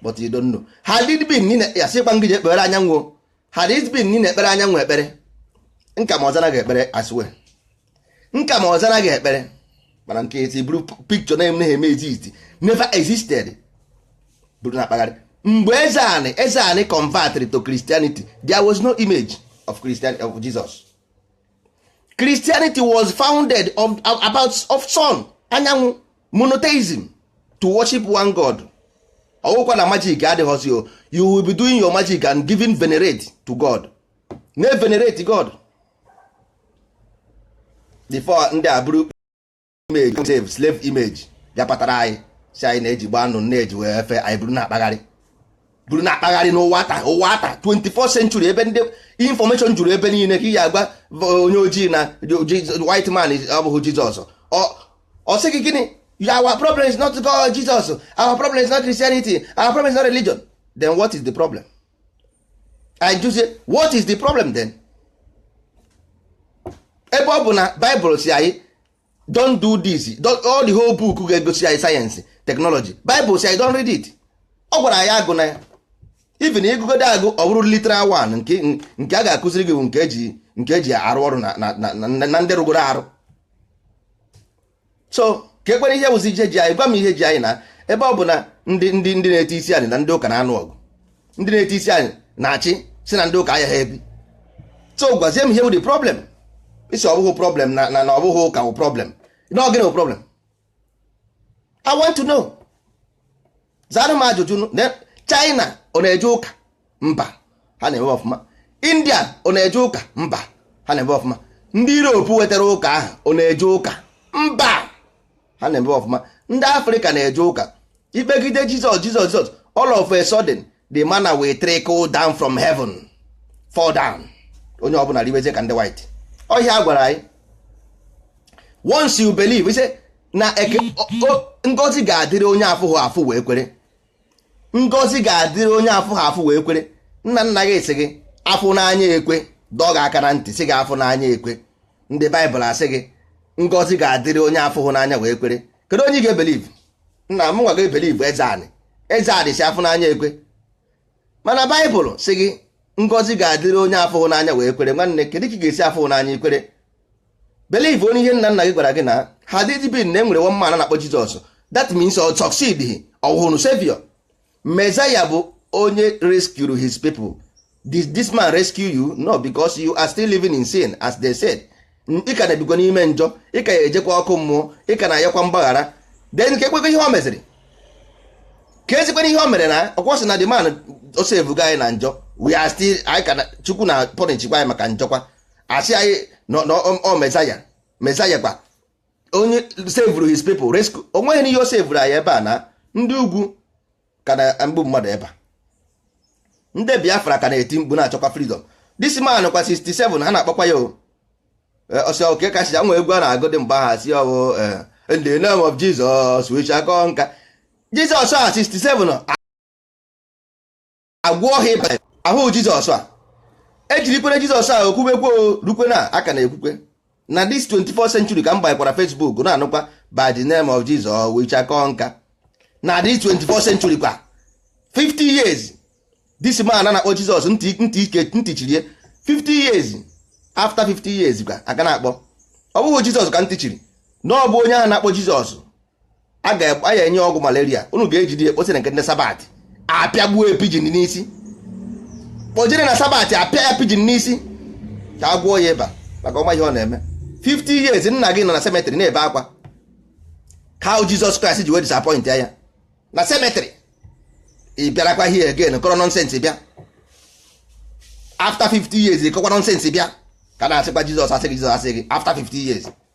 but you don't know had it been ya sịkwa ngị je kpere anyanwụ had it been na ị na-ekpere anyanwụ ekpere nka ma ọ zara gị ekpere as well nka ma ọ zara gị ekpere mana nke eti buru picture na-emeghị eme exist never existed buru na-akpagharị mgbe eze anị eze anị converted to Christianity there was no image of Christian of Jesus Christianity was founded of, about of sun anyanwụ monotheism to worship one god ọ wụkwa na magic adịghọzi o you will be doing your magic and giving venerate to god na venerate god before ndị a buru image save slave image bịa kpatara anyị sị anyị na-eji gba anụ na-eji wee efe anyị buru na-akpagharị buru na-akpagharị n'ụwa taa ụwa taa 24 century ebe ndị information juru ebe niile ka ị ga-agwa onye ojii na white man ọ bụghị jizọs ọ sị gị gịnị our problem is not God Jesus our problem is not Christianity our problem is not religion then what is the problem I just say what is the problem then ebe ọ bụ na Bible sị anyị don't do this all the whole book ga-egosi anyị science technology Bible sị anyị don't read it ọ gwara anyị agụna ya even ị gụgode agụ ọ bụrụ literal one nke a ga-akụziri gị bụ nke eji nke eji arụ ọrụ na ndị rụgoro arụ so ka ekwere ihe bụzi ihe ji anyị gwa m ihe ji anyị na ebe ọ bụ na ndị ndị ndị na-eti isi anyị na ndị ụka na-anụ ọgụ ndị na-eti isi anyị na-achị si na ndị ụka ahịa ha ebi so gwazie m ihe wụ the problem ị sị ọ bụghị problem na na ọ bụghị ụka wụ problem na ọ gịnị wụ problem i want to know zara m ajụjụ china ọ na-eje ụka mba ha na-eme ọfụma india ọ na-eje ụka mba ha na-eme ọfụma ndị europe wetara ụka ahụ ọ na-eje ụka mba ha na-eme ọfụma ndị afrịka na-eje ụka ikpegide jizọs jizọs jizọs all of a sudden the manna will trickle down from heaven fall down onye ọbụla ribezie ka ndị white ọ ihe a gwara anyị once you believe ị sị na ngozi ga-adịrị onye afụghị afụ wee kwere ngozi ga-adịrị onye afụhụ afụ wee kwere nna nna gị sị gị afụ n'anya ekwe dọọ gị aka na ntị sị gị afụ n'anya ekwe ndị baịbụl asị gị ngozi ga-adịrị onye afụhụ n'anya wee kwere kedu onye ị ga-ebeliv nna mụnwa ga-ebeliv ezeanị ezeanị sị afụ n'anya ekwe mana baịbụl sị gị ngozi ga-adịrị onye afụhụ n'anya wee kwere nwanne kedu ka ị ga-esi afụhụ n'anya i kwere believe onye ihe nna nna gị gwara gị na had it been na e nwere one man na-akpọ Jizọs that means ọ succeedihi ọ wụhụ savior Messiah bụ onye rescue his people this, this man rescue you no because you are still living in sin as they said ị ka na-ebikwa n'ime njọ ị ka ya-ejekwa ọkụ mmụọ ị ka na-ayọkwa mgbaghara then ka ekwekwa ihe o meziri ka ezikwana ihe o mere na ọ kwa a sị na the man o sevugo anyị na njọ we are still anyị ka na- chukwu na-apọnishikwa anyị maka njọkwa a sị anyị na ọ mezaya mezaya kwa onye sevuru his people rescue o nweghị ihe o sevuru anyị ebe a na ndị ugwu ka na-egbu mmadụ ebe a ndị biafra ka na-eti mkpu na-achọkwa freedom this man kwa 67 ha na-akpọkwa ya o ọsị oke kachi ya nwe egwu a na-agụ dị mgbe ahụ si ọwụ in the name of Jesus we shall conquer Jesus a 67 agwọ ha ịba ahụ jizọs a ejirikwere jizọs a e kwubekwe rukwe na a ka na-ekwukwe na this 24 century ka m gbakwara facebook na-anụkwa by the name of jesus we shall conquer na this 24 century kwa 50 years this man na-akpọ jizọs ntị ike ntị chirie 50 years after 50 years kwa a ka na-akpọ ọ bụghị jizọs ka ntị chiri na ọ bụ onye ahụ na-akpọ jizọs a ga-enye ọgwụ malaria unu ga-ejide ekposi na nke ndị sabat a pịagbuo e pijin n'isi kpọjere na sabat a pịa ya pijin n'isi ka a gwọọ ya ịba maka ọ ma ihe ọ na-eme 50 years nna gị nọ na cemetery na-ebe akwa how Jizọs Kraịst ji wee disappoint ya na cemetery ị bịarakwa here again kọrọ nonsense bịa after 50 years ị kọkwa nonsense bịa ka na-asịkwa Jizọs asị gị Jizọs asị gị after 50 years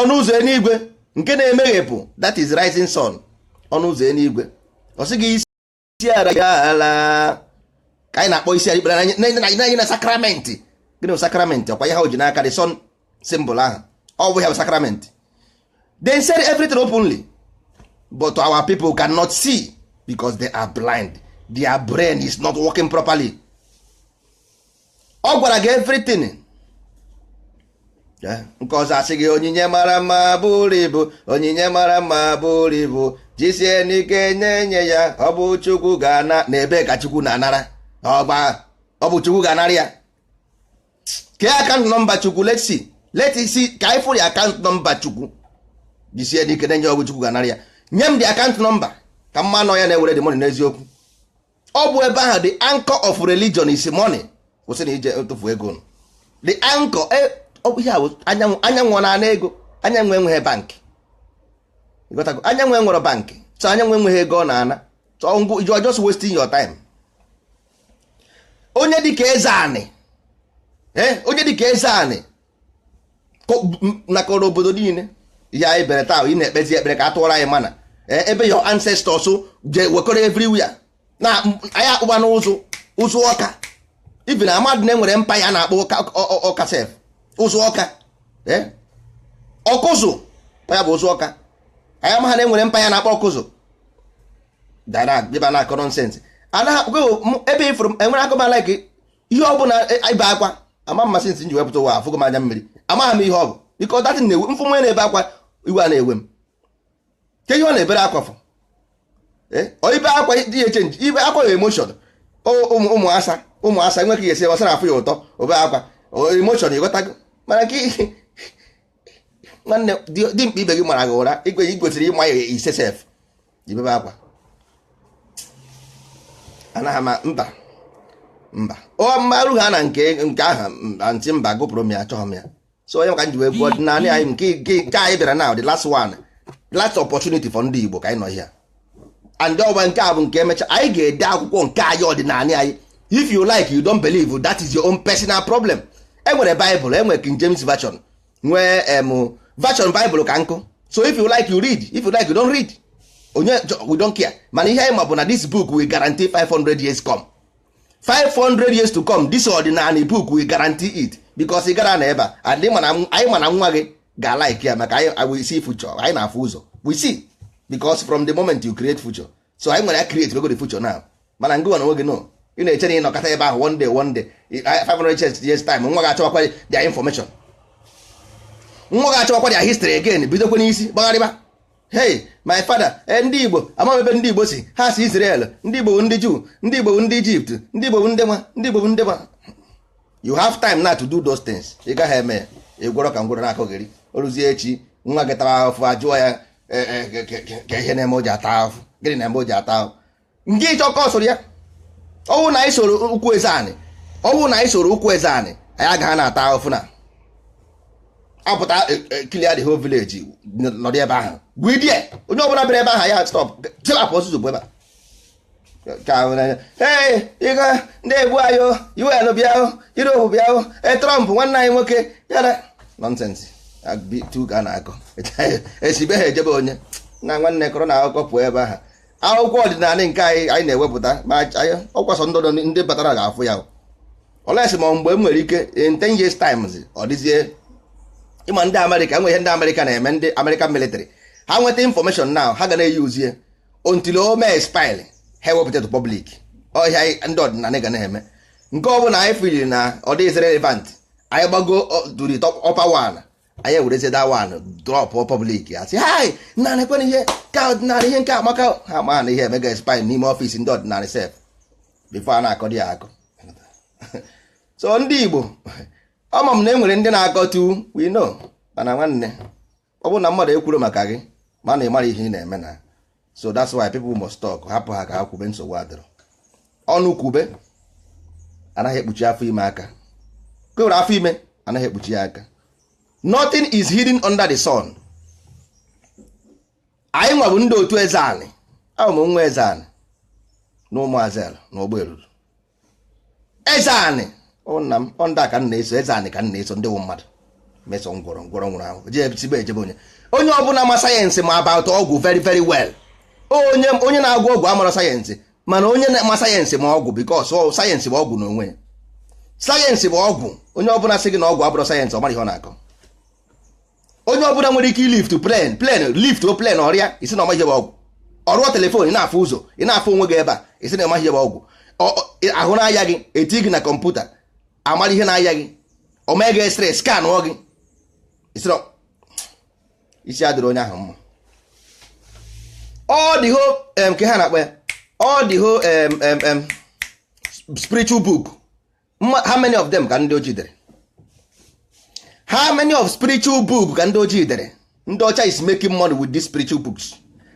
ọnụ ụzọ eluigwe nke na-emeghepụ that is rising sun ọnụ ụzọ eluigwe ọ sị gị isi ara gị ala ka anyị na-akpọ isi ikpere anyị na sakramenti gịnị bụ sakramenti ọ kwa ihe ha ji n'aka the sun symbol ahụ ọ bụ ya bụ sakramenti they said everything openly but our people cannot see because they are blind their brain is not working properly ọ gwara gị everything nke ọzọ asị gị onyinye mara mma bụrụ ibu onyinye mara mma bụrụ ibu jisie n'ike nye nye ya ọ bụ chukwu ga-ana na ebe ka chukwu na-anara ọgba ọ bụ chukwu ga-anara ya kee account number chukwu let's let's see ka anyị fụrụ account number chukwu jisie n'ike nye ya ọ bụ chukwu ga-anara ya nye m the account number ka m ma na ọ ya na-ewere the money n'eziokwu ọ bụ ebe ahụ the anchor of religion is money kwụsị na ije tụfu ego unu the anchor e- ọ bụ ihe a bụ anyanwụ anyanwụ ọ na-ana ego anyanwụ enweghị bank ịghọtago anyanwụ enwere bank so anyanwụ enweghị ego ọ na-ana so ngị you are just wasting your time onye dịka eze anị eh, onye dịka eze anị nakọrọ obodo niile ihe anyị bere taa ị na-ekpezi ekpere ka a tụọrọ anyị manna e, ebe your ancestors je wekọrọ everywhere na anyị akpụba n'ụzụ ụzụ ọka even amadị na enwere mpa ya na-akpọ ọka sef ụzụ ọka e, ọkụzụ ya bụ ụzụ ọka anyị amaghị na enwere mpa ya na-akpọ ọkụzụ dara dịba na-akọ nonsense anaghị akpụgo ebe ifuru enwere akụba like ihe ọ bụla e, ibe akwa ama m ma since m ji wee pụta ụwa afụgo m anya mmiri amaghị m ihe ọ bụ biko that na-ewe m fụ nwa na-ebe akwa iwe a na-ewe m kee ihe ọ na-ebere akwa fụ eh, ibe akwa dị ya e-change ibe akwa ya emotion ụmụ asa ụmụ asa enweghị ihe esi ọ sara afụ ya ụtọ o bee akwa emotion ịghọtago mana nke nwanne dimkpa ibe gị mara gị ụra i kwesịrị ịma ya ise sef i bebe akwa anaghị ama mba mba ọ mmarụ ha na nke nke aha ntị mba gụpụrụ m ya achọghị m ya so onye maka m ji wee gụọ ọdịnala anyị nke nke anyị bịara na the last one the last opportunity for ndị Igbo ka anyị nọ here and ọgba nke a bụ nke emecha anyị ga-ede akwụkwọ nke anyị ọdịnala anyị if you like you don't believe that is your own personal problem enwere Bible enwere King James Version nwee em version Bible ka nkụ so if you like you read if you like you don't read onye we don't care mana ihe anyị ma bụ na this book will guarantee 500 years come 500 years to come this ọdịnanị book will guarantee it because ị gara na ebe a and anyị ma na nwa gị ga-alike ya maka anyị we see future anyị na-afụ ụzọ we see because from the moment you create future so anyị nwere ya create wego the future now mana ngị nwa na nwa gị no ị na-eche na ị nọkata ebe ahụ one day one day 500 years time nwa ga-achọwakwa their information nwa ga-achọwakwa their history again bidokwa n'isi gbagharịba hey my father e ndị igbo amaghị ebe ndị igbo si ha si Israel ndị igbo bụ ndị Jew ndị igbo bụ ndị Egypt ndị igbo bụ ndị nwa ndị igbo bụ ndị nwa you have time now to do those things ị gaghị eme ya ị gwọrọ ka ngwụrọ na-akọgheri o ruzie echi nwa gị tara ahụfụ ajụọ ya e, e, kee ihe na-eme o ji ata ahụfụ gịnị na-eme o ji ata ahụfụ nke ịchọ ka ọ soro ya ọ wụrụ na anyị soro ụkwụ eze anị ọ wụ na anyị soro ụkwụ eze anị anyị agaghị na-ata ahụfụ na apụta clear the whole village nọdụ ebe ahụ gwidie onye ọbụla bịara ebe ahụ ya stop tilapụ ọsụsụ bụ ebe a ee ịga ndị egbu anyị o un bịa o europe bịa o e trump nwanne anyị nwoke yara nonsense tu ga na-akọ esibe ha ejebe onye na nwanne kọrọ na akụkọ pụọ ebe ahụ akwụkwọ ọdịnala nke anyị anyị na-ewepụta ma ọkwasọ ndụ ndị batara ga-afụ ya unless ma mgbe m nwere ike in 10 years times ọ dịzie ịma ndị amerịka e nwe ihe ndị amerịka na-eme ndị american military ha nweta information now ha ga na-eyuzie until o mee expire ha ewepụta to public ọ ihe a ndị ọdịnala ga na-eme nke ọ bụla anyị fili na ọ dịghịzi relevant anyị gbago to the upper one anyị ewerezie that one drop public asị hai nna nekwe ihe ka ọdịnala ihe nke a amaka ha ma na ihe emego expire n'ime office ndị ọdịnala sef before a na-akọdị ya akọ so ndị Igbo ama m na e nwere ndị na-akọtu we know mana nwanne ọ bụrụ na mmadụ ekwurọ maka gị ma na ị marọ ihe ị na-eme na so that's why people must talk hapụ ha ka ha kwube nsogbu adịrọ ọnụ kwube anaghị ekpuchi afọ ime aka kewere afọ ime anaghị ekpuchi ya aka nothing is hidden under the sun anyị nwa bụ ndị otu eze anị a wụ m nwa eze anị na ụmụazị ala na ụgbọ eluru eze anị nna m ọ ndị a ka m na-eso eze anị ka m na-eso ndị wụ mmadụ meso ngwọrọ ngwọrọ nwụrụ ahụ jebsigbe ejebe onye onye ọbụla ma sayensị ma about ọgwụ very very well onye na-agwọ ọgwụ amarọ sayensị mana onye na-ama sayensị ma ọgwụ because sayensị bụ ọgwụ n'onwe ya sayensị bụ ọgwụ onye ọbụla sị gị na ọgwụ abụrọ sayensị ọ marọ ihe ọ na-akọ onye ọbụla nwere ike ilift plane lift o plane ọ rịa ị sị na ọ maghị ihe bụ ọgwụ ọ rụọ telefon ị na-afụ ụzọ ị na-afụ onwe gị ebe a ị sị na ọ maghị ihe bụ ọgwụ ahụ na-aya gị eti gị na kọmputa amara ihe na-aya gị o mee gị x-ray scanụọ gị isi adịrọ onye ahụ mma all the whole nke ha na-akpọ ya all the whole spiritual book how many of them ka ndị ojii dere how many of spiritual book ka ndị ojii dere ndị ọcha is making money with these spiritual books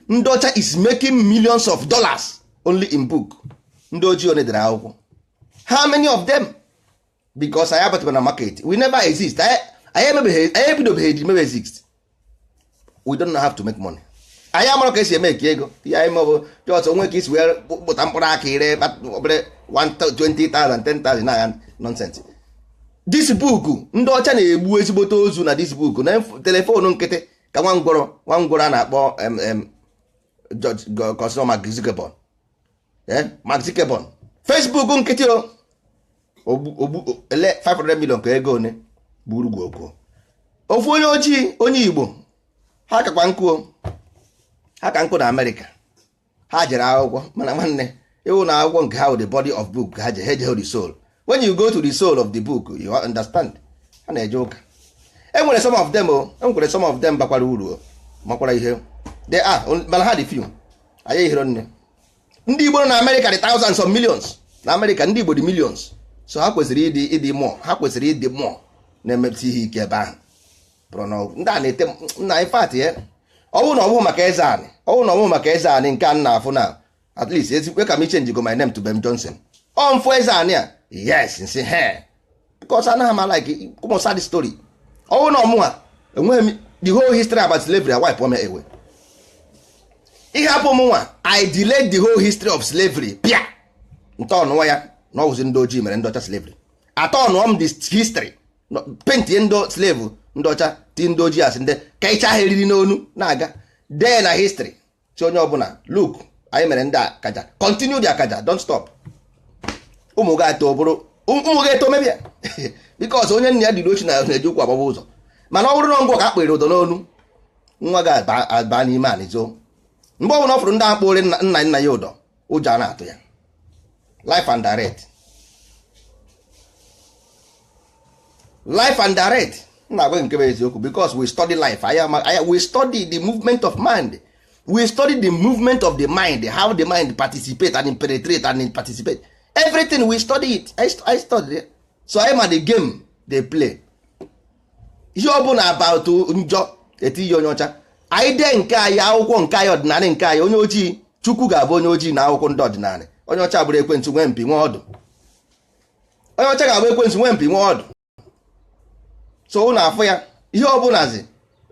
ndị ọcha is making millions of dollars only in book ndị ojii one dere akwụkwọ how many of them because anyị abatarọ na market we never exist anyị ebidobeghị eji mebe exist we don't know how to make money anyị amarọ ka esi make ego ihe anyị ma bụ just onwe ka isi wee kpụta mkpụrụ aka ire obere 20,000 10,000 na nonsense this book ndị ọcha na-egbu ezigbote ozu na this book na telefonu nkịtị ka nwa ngwọrọ nwa ngwọrọ a na-akpọ kọsịrị Mark Zuckerberg eh, Mark Zuckerberg Facebook nkịtị o ogbu ele 500 million ka ego one buru gwu okwu ofu onye ojii onye Igbo ha kakwa nkọ ha ka nkọ na Amerịka ha jere akwụkwọ mana nwanne ịwụ na akwụkwọ nke ha wụ the body of book ha je ha ejeghị the soul when you go to the soul of the book you understand ha na-eje ụka enwere some of them o enwere some of them bakwara uru makwara ihe they are mana ha dị few anyị ehirọ nne ndị Igbo na America dị thousands of millions na America ndị Igbo dị millions so ha kwesịrị ịdị ịdị more ha kwesịrị ịdị more na-emepụta ihe ike ebe ahụ pụrụ n'ọgwụ ndị a na-ete nna in fact ya ọwụ na ọwụ maka Ezeanị ọwụ na ọwụ maka Ezeanị nke a na-afụ na at least ezikwe ka m change go my name to Ben Johnson ọ m fụ Ezeanị a yes m sị he because anaghị m like ụmụ sad story ọwụ na ọ mụnwa enweghị m the whole history about slavery a wipe me away ihe hapụ m nwa i delete the whole history of slavery bịa ntọọnụwa ya na ọwụzi ndị ojii mere ndị ọcha slavery atọọnụọ m the history pentie ndị slave ndị ọcha ti ndị ojii asị ndị kechaa ha eriri n'onu na-aga dee na history sị onye ọbụla look anyị mere ndị akaja continue the akaja don't stop ụmụ gị eto bụrụ ụmụ gị eto mebe ya because onye nna ya duru oshi na na-eji ụkwụ agbaba ụzọ mana ọ bụrụ na ngị ka akpụrụ ụdọ n'onu nwa gị aba n'ime anị zoo mgbe ọbụla ọ fụrụ ndị a kpụrụ nna nna ya ụdọ ụjọ a na-atụ ya life and direct life and direct na-agwa nke bụ eziokwu because we study life aya we study the movement of mind we study the movement of the mind how the mind participate and penetrate and participate everything we study it I, I study it. so I ma the game they play ihe ọ bụla about njọ etinye onye ọcha anyị dee nke anyị akwụkwọ nke anyị ọdịnala nke anyị onye ojii chukwu ga-abụ onye ojii na akwụkwọ ndị ọdịnala onye ọcha bụrụ ekwensu nwee mpi nwee ọdụ onye ọcha ga-abụ ekwensu nwee mpi nwee ọdụ so ụnụ afụ ya ihe ọ bụlazi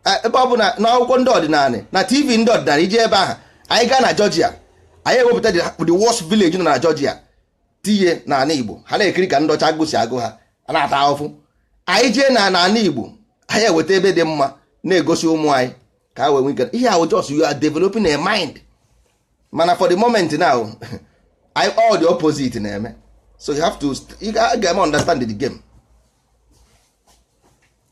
Eh, ebe ọ bụla na akwụkwọ ndị ọdịnala na tv ndị ọdịnala iji ebe ahụ anyị gaa na Georgia anyị ewepụta the worst village nọ na Georgia tinye n'ala Igbo ha na-ekiri ka ndị ọcha agụụ si agụ ha a na-ata ahụfụ anyị jee na n'ala Igbo anyị eweta ebe dị mma na-egosi ụmụ anyị ka ha wee nwee ike ihe ahụ just you are developing a mind mana for the moment now I all the opposite na-eme so you have to ị ga-eme understand the game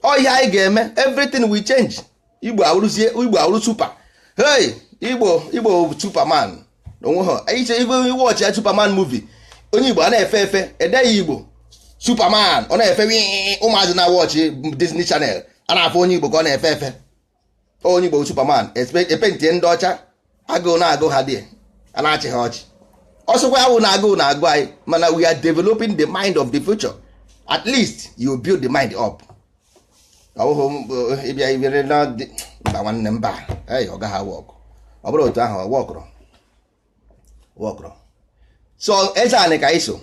ọ ihe anyị ga-eme everything will change igbo awụrụzie igbo awụrụ super hey igbo igbo superman onweghị iche igwe watch ya superman movie onye igbo a na-efe efe edee ya igbo superman ọ na-efe ụmụazị na watch disney channel a na-afụ onye igbo ka ọ na-efe efe onye Igbo Superman epentie ndị ọcha agụụ na-agụ ha dị a na-achị ha ọchị ọ sọkwa awụ na agụụ na-agụ anyị mana we are developing the mind of the future at least you build the mind up ọ wụhụ eh, ịbịa ibere na mba nwanne mba ọ gaghị awọkụ ọ bụrụ otu ahụ wọkụrụ wọkụrụ so eze anị ka i so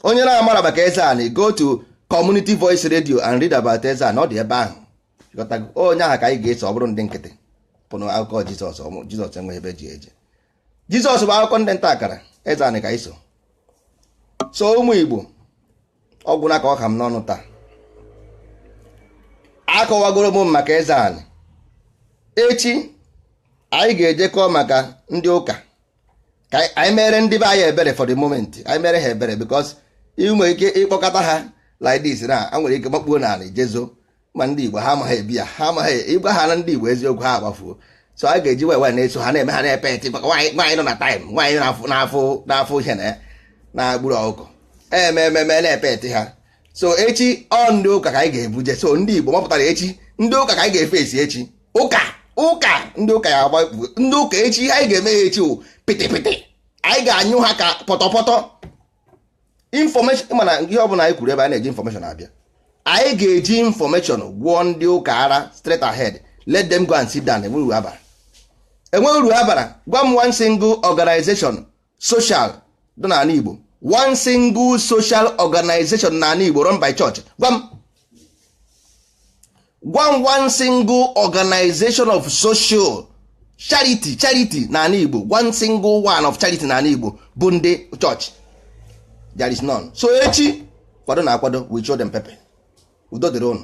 onye na-amara maka eze anị go to community voice radio and read about eze anị ọ dị ebe ahụ onye ahụ ka anyị ga-eso ọ bụrọ ndị nkịtị pụnụ akụkọ Jizọs Jizọs enweghị ebe o ji eje Jizọs bụ akụkọ ndị ntakara eze anị ka i so so ụmụ Igbo ọ gwụna ka ọ ha m n'ọnụ taa akọwagoro m maka eze anị echi anyị ga-ejekọ maka ndị ụka ka anyị mere ndị be anyị ebere for the moment anyị mere ha ebere because ị nwere ike ịkpọkọta ha like this na ha nwere ike makpuo n'ala je zoo ma ndị Igbo ha amaghị ebi ya ha amaghị ịgwa ha na ndị Igbo eziokwu ha agbafuo so a ga-eji wee na-eso ha na-eme ha na-epeti maka nwaanyị nọ na time nwaanyị na-afụ n'afọ ihe na ya na-egburu ọkụkọ ememe na-epeti ha so echi ọ ndị ụka ka anyị ga-ebuje so ndị Igbo mapụtara echi ndị ụka ka anyị ga-efesi echi ụka ụka ndị ụka ya agba ndị ụka echi ihe anyị ga-eme ya echi wụ pịtịpịtị anyị ga-anyụ ha ka pọtọpọtọ information mana ihe ọ bụla anyị kwuru ebe a na-eji information abịa anyị ga-eji information gwọọ ndị ụka ara straight ahead let them go and sit down enweghị uru ha bara enweghị uru ha bara gwa m one single organization social dị n'ala Igbo one single social organization n'ala Igbo run by church gwa m gwa m one single organization of social charity charity n'ala Igbo one single one of charity n'ala Igbo bụ ndị church there is none so echi kwadonụ akwado we show them pepper udo dịrị ụnụ